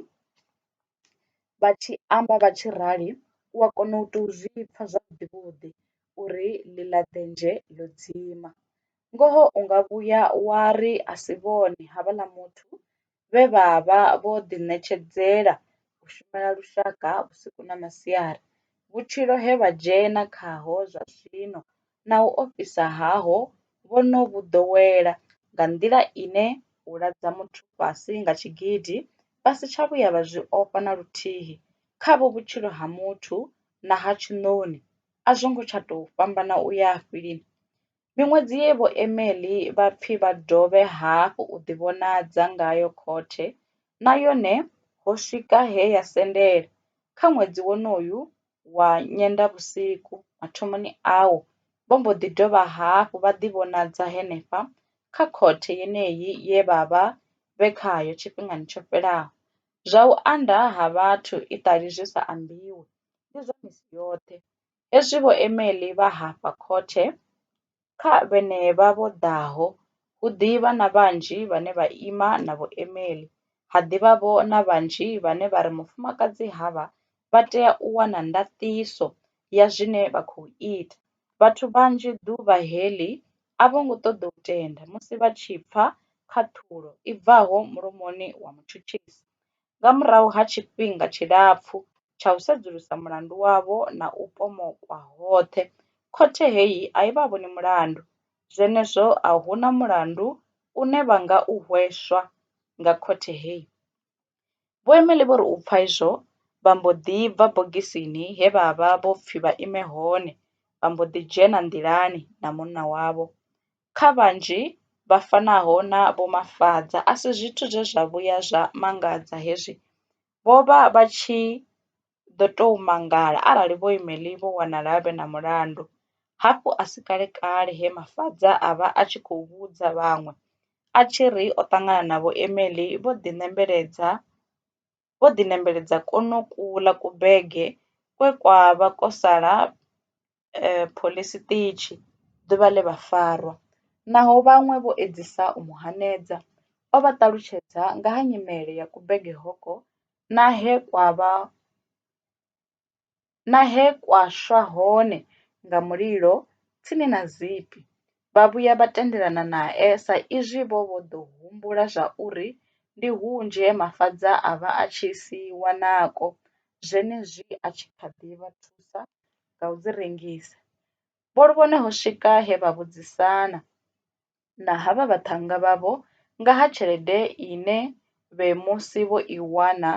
vha tshi amba vha tshi rali u a kona u tou zwi pfha zwavhuḓi vhuḓi uri ḽi ḽa denzhe ḽo dzima. Ngoho u nga vhuya wa ri a si vhone havhaḽa muthu vhe vha vha vho ḓiṋetshedzela u shumela lushaka vhusiku na masiari, vhutshilo he vha dzhena khaho zwa zwino na u ofhisa haho vho no vhu ḓowela nga nḓila ine u ladza muthu fhasi nga tshigidi vha si tsha vhuya vha zwi ofha na luthihi, khavho vhutshilo ha muthu na ha tshiṋoni a zwo ngo tsha tou fhambana u ya fhi lini? Miṅwedzi ye vhoemeli vha pfi vha dovhe hafhu u ḓivhonadza ngayo khothe na yone ho swika he ya sendela. Kha ṅwedzi wonoyu wa Nyendavhusiku mathomoni awo, vho mbo ḓi dovha hafhu vha ḓivhonadza henefha kha khothe yeneyi ye vha vha vhe khayo tshifhingani tsho fhelaho. Zwa u anda ha vhathu iṱali zwi sa ambiwi, ndi zwa misi yoṱhe. Hezwi vhoemeli vha hafha khothe kha vhenevha vho ḓaho, hu ḓi vha na vhanzhi vhane vha ima na vhoemeli, ha ḓi vha vho na vhanzhi vhane vha ri mufumakadzi havha vha tea u wana ndaṱiso ya zwine vha khou ita. Vhathu vhanzhi ḓuvha heḽi a vho ngo ṱoḓa u tenda musi vha tshi pfa khaṱhulo i bvaho mulomoni wa mutshutshisi. nga murahu ha tshifhinga tshilapfu tsha u sedzulusa mulandu wavho na u pomokwa hoṱhe, khothe heyi a i vha vhoni mulandu. Zwenezwo a hu na mulandu une vha nga u hweswa nga khothe heyi. Vho Emely vho ri u pfa izwo, vha mbo ḓi bva bogisini he vha vha vho pfi vha ime hone vha mbo ḓi dzhena nḓilani na munna wavho. kha vhanzhi vha fanaho na Vho Mafadza a si zwithu zwe zwa vhuya zwa mangadza hezwi vho vha vha tshi ḓo tou mangala arali Vho Imeli vho wanala vhe na mulandu. Hafhu a si kalekale he Mafadza a vha a tshi khou vhudza vhaṅwe a tshi ri o ṱangana na Vho Imeli vho ḓinembeledza. vho ḓi nembeledza kwonokuḽa kubege kwe kwa vha kwo sala phoḽisi ṱitshi ḓuvha ḽe vha farwa. Naho vhaṅwe vho edzisa u mu hanedza, o vha ṱalutshedza nga ha nyimele ya kubege hoko na he kwa vha na he kwa swa hone nga mulilo tsini na Zipi, vha vhuya vha tendelana nae sa izwi vho vha vho ḓo humbula zwauri ndi hunzhi he Mafadza a vha a tshi si wanako, zwenezwi a tshi kha ḓi vha thusa nga u dzi rengisa. Vho Luvhone ho swika he vha vhudzisana, na ha vha vhaṱhannga vhavho nga ha tshelede ine vhe musi vho i wana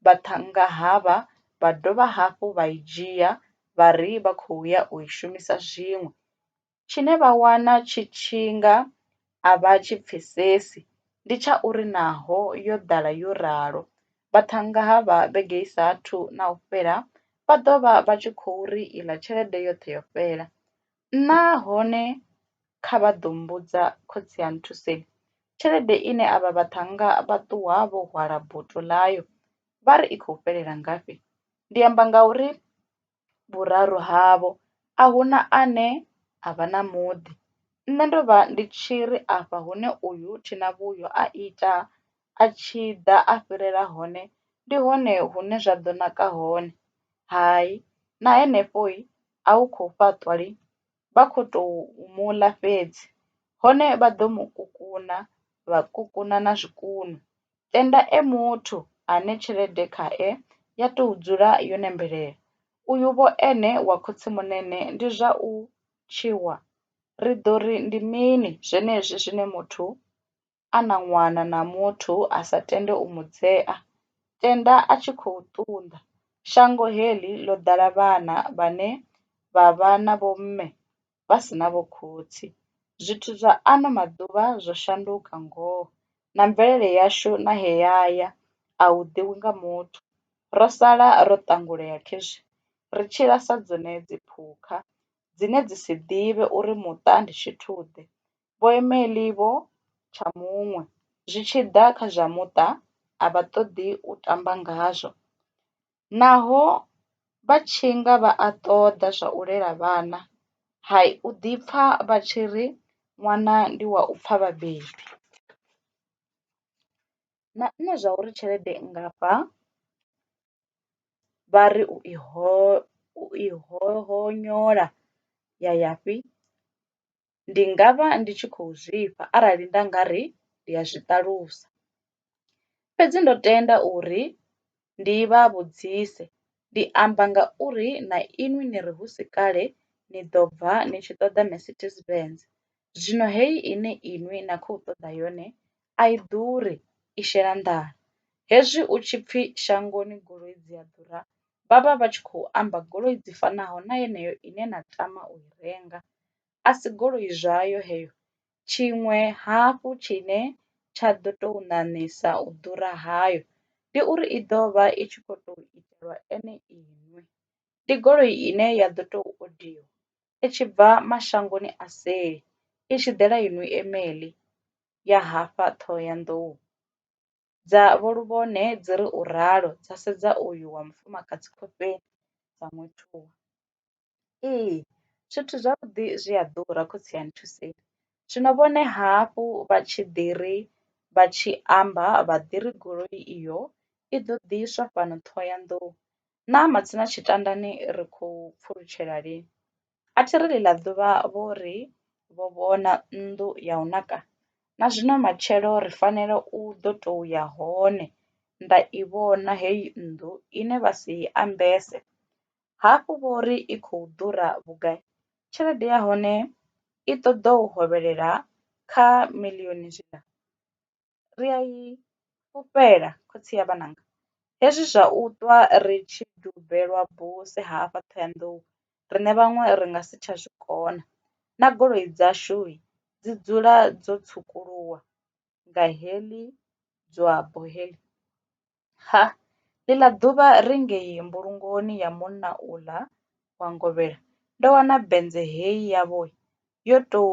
vhaṱhannga havha vha dovha hafhu vha i dzhia vha ri vha khou ya u i shumisa zwiṅwe, tshine vha wana tshi tshi nga a vha tshi pfesesi ndi tsha uri naho yo ḓala yo ralo, vhaṱhannga havha vhege i sa athu na u fhela vha ḓo vha vha tshi khou ri iḽa tshelede yoṱhe yo fhela. Nahone kha vha ḓo mbudza khotsi a nthuseni, tshelede ine avha vhaṱhannga vha ṱuwa vho hwala boto ḽayo vha ri i khou fhelela ngafhi? Ndi amba ngauri vhuraru havho a hu na ane a vha na muḓi. Nṋe ndo vha ndi tshi ri afha hune uyu Thinavhuyo a ita a tshi ḓa a fhirela hone ndi hone hune zwa ḓo naka hone. Hai, na henefho a u khou fhaṱwa lini vha kho to mu ḽa fhedzi hone vha ḓo mu kukuna vha kukuna na zwikunwe tenda e muthu ane tshelede khae ya tou dzula yo nembelela uyu vho ene wa khotsimunene ndi zwa u tswiwa ri ḓo ri ndi mini zwenezwi zwine muthu a na ṅwana na muthu a sa tende u mu dzea, tenda a tshi khou ṱunḓa. Shango heḽi ḽo ḓala vhana vhane vha vha na vhomme vha si na vhokhotsi. Zwithu zwa ano maḓuvha zwo shanduka ngoho, na mvelele yashu na he ya ya a hu ḓivhi nga muthu. Ro sala ro ṱangulea khezwi ri tshila sa dzone dziphukha dzine dzi si ḓivhe uri muṱa ndi tshithu-ḓe. Vhoimeli vho tsha muṅwe zwi tshi ḓa kha zwa muṱa a vha ṱoḓi u tamba ngazwo. Naho vha tshi nga vha a ṱoḓa zwa u lela vhana, hai, u ḓi pfa vha tshi ri ṅwana ndi wa u pfa vhabebi. Na nṋe zwa uri tshelede nngafha vha ri u i ho, u i hoṱola ya ya fhi? ndi nga vha ndi tshi khou zwifha arali nda nga ri ndi a zwi ṱalusa. Fhedzi ndo tenda uri ndi vha vhudzise, ndi amba ngauri na inwi ni ri hu si kale ni ḓo bva ni tshi ṱoḓa Mercedes Benz, zwino heyi ine inwi na khou ṱoḓa yone a i ḓuri, i shela nḓala. Hezwi u tshi pfi shangoni goloi dzi a ḓura vha vha vha tshi khou amba goloi dzi fanaho na yeneyo ine na tama u i renga. a si goloi zwayo heyo. Tshiṅwe hafhu tshine tsha ḓo tou ṋaṋisa u ḓura hayo ndi uri i ḓo vha i tshi khou tou itelwa ene iṋe. Ndi goloi ine ya ḓo tou odiwa i tshi bva mashangoni a seli i tshi ḓela i nw-i-emeli ya hafha Ṱhohoyanḓou. Dza Vho Luvhone dzi ri u ralo dza sedza uyu wa mufumakadzi khofheni dza mu thuba. Ee, zwithu zwavhuḓi zwi a ḓura khotsi a nthuseni zwino vhone hafhu vha tshi ḓi ri vha tshi amba vha ḓi ri goloi iyo i ḓo ḓiswa fhano Ṱhohoyanḓou naa matsina Tshitandani ri khou pfulutshela lini a thi ri ḽi ḽa ḓuvha vho ri vho vhona nnḓu ya u naka na zwino matshelo ri fanela u ḓo to ya hone nda i vhona heyi nnḓu ine vha si i ambese hafhu vho ri i khou ḓura vhugai, tshelede ya hone i ṱoḓa u hovhelela kha miḽioni zwiḽa. Ri a i fhufhela khotsi ya vhananga. Hezwi zwa u ṱwa ri tshi dubelwa buse hafha Ṱhohoyanḓou riṋe vhaṅwe ri nga si tsha zwi kona, na goloi dzashu dzi dzula dzo tswukuluwa nga heḽi dzwabbo heḽi. Ha! Ḽiḽa ḓuvha ri ngei mbulungoni ya munna uḽa wa ngovhela, ndo wana bennze hei yavho yo tou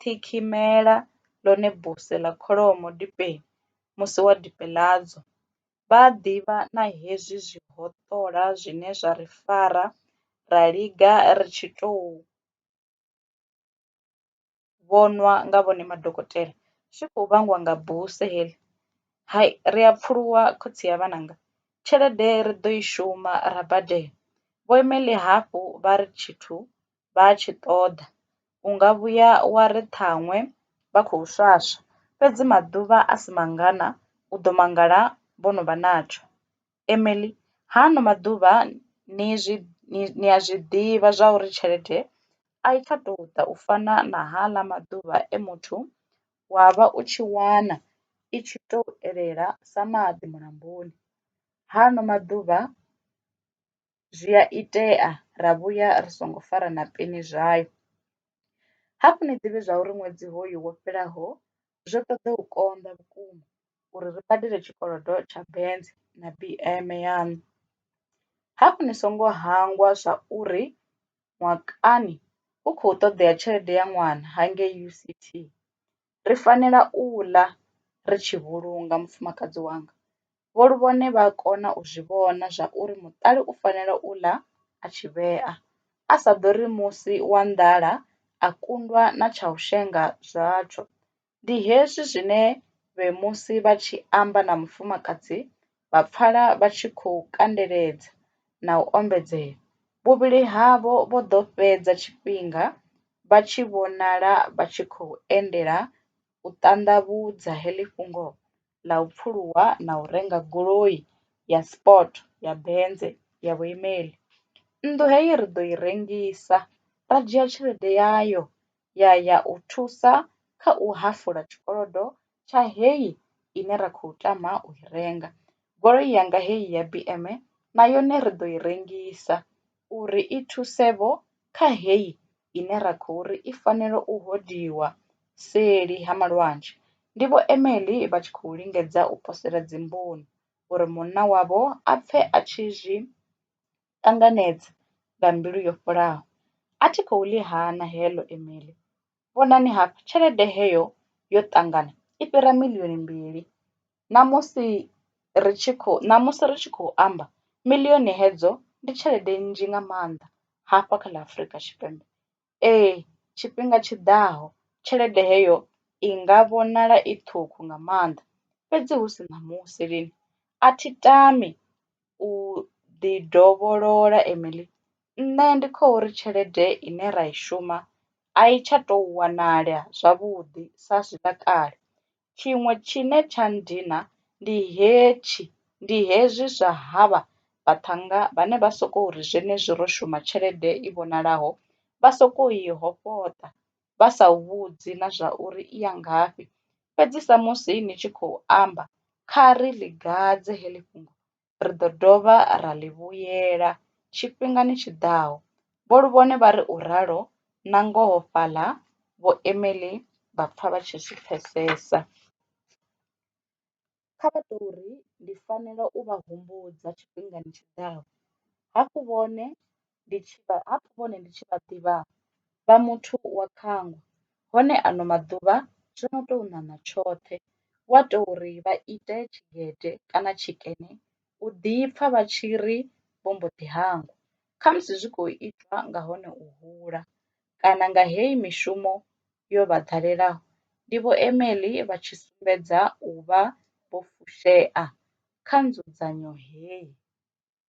ṱhikhimela ḽone buse ḽa kholomo dipeni musi wa dipe ḽadzo. Vha a ḓivha na hezwi zwihoṱola zwine zwa ri fara ra linga ri tshi tou. vhonwa nga vhone madokotela zwi kho vhangwa nga buse heḽi, hai ri a pfuluwa khotsi a vhananga tshelede ri ḓo i shuma ra badela vho Emily hafhu vha ri tshithu vha tshi ṱoḓa unga vhuya wa ri ṱhaṅwe vha khou swaswa fhedzi maḓuvha a si mangana u ḓo mangala vho no vha natsho. Emily, Ha ano maḓuvha ni zwi, ni a zwi ḓivha zwa uri tshelede a i tsha tou ḓa u fana na haaḽa maḓuvha e muthu wa vha u tshi wana i tshi tou elela sa maḓi mulamboni. Ha ano maḓuvha. zwi a itea ra vhuya ri songo fara na peni zwayo. Hafhu ni ḓivhe zwa uri ṅwedzi hoyu wo fhelaho zwo ṱoḓa u konḓa vhukuma uri ri badele tshikolodo tsha Benz na BM yaṋu. Hafhu ni songo hangwa zwa uri mwakani hu khou ṱoḓea tshelede ya ṅwana hangei UCT. ri fanela u ḽa ri tshi vhulunga mufumakadzi wanga. Vho Luvhone vha kona u zwi vhona zwa uri muṱali u fanela u ḽa a tshi vhea, a sa ḓori musi wa nḓala a kundwa na tsha u shenga zwatsho. Ndi hezwi zwine vhe musi vha tshi amba na mufumakadzi vha pfala vha tshi khou kandeledza na u ombedzela. Vhuvhili havho vho ḓo fhedza tshifhinga vha tshi vhonala vha tshi khou endela u ṱanḓavhudza heḽi fhungo ḽa u pfuluwa na u renga goloi ya Sport ya Benze ya vhuimeli. Nnḓu heyi ri ḓo i rengisa ra dzhia tshelede yayo ya ya u thusa kha u hafula tshikolodo tsha heyi ine ra khou tama u i renga. Goloi yanga heyi ya BM na yone ri ḓo i rengisa uri i thuse vho kha heyi ine ra khou ri i fanela u hodiwa seli ha malwanzhe. Ndi Vho Emily vha tshi khou lingedza u posela dzimboni uri munna wavho a pfe a tshi zwi ṱanganedza nga mbilu yo fholaho. A thi khou ḽi hana heḽo imeili. Vhonani hafha, tshelede heyo yo ṱangana i fhira miḽioni mbili. Ṋamusi ri tshi khou, ṋamusi ri tshi khou amba, miḽioni hedzo ndi tshelede nnzhi nga maanḓa hafha kha ḽa Afrika Tshipembe. Ee, tshifhinga tshi ḓaho tshelede heyo i nga vhonala i ṱhukhu nga maanḓa, fhedzi hu si ṋamusi lini a thi tami u ḓi dovholola Emily. Nṋe ndi kho uri tshelede ine ra i shuma a i tsha tou wanala zwavhuḓi sa zwiḽa kale, Tshiṅwe tshine tsha nndina ndi hetshi, ndi hezwi zwa havha vhaṱhannga vhane vha sokou ri zwenezwi ro shuma tshelede i vhonalaho vha sokou i hofhoṱa vha sa u vhudzi na zwa uri i ya ngafhi. Fhedzi samusi ni tshi khou amba, kha ri ḽi gadze heḽi fhungo ri ḓo dovha ra ḽi vhuyela tshifhingani tshi ḓaho, Vho Luvhone vha ri u ralo nangoho fhaḽa Vho Emily vha pfa vha tshi zwi pfesesa. Kha vha tou ri ndi fanela u vha humbudza tshifhingani tshi ḓaho, hafhu vhone ndi tshi vha hapfi vhone ndi tshi vha ḓivha vha muthu wa khangwa hone ano maḓuvha zwo no tou ṋaṋa tshoṱhe wa to ri vha ite tshigede kana tshikene u ḓi pfha vha tshi ri vho mbo ḓi hangwa khamusi zwi kho itwa nga hone u hula kana nga heyi mishumo yo vha ḓalelaho ndi vho Emeḽi vha tshi sumbedza u vha vho fushea kha nzudzanyo heyi.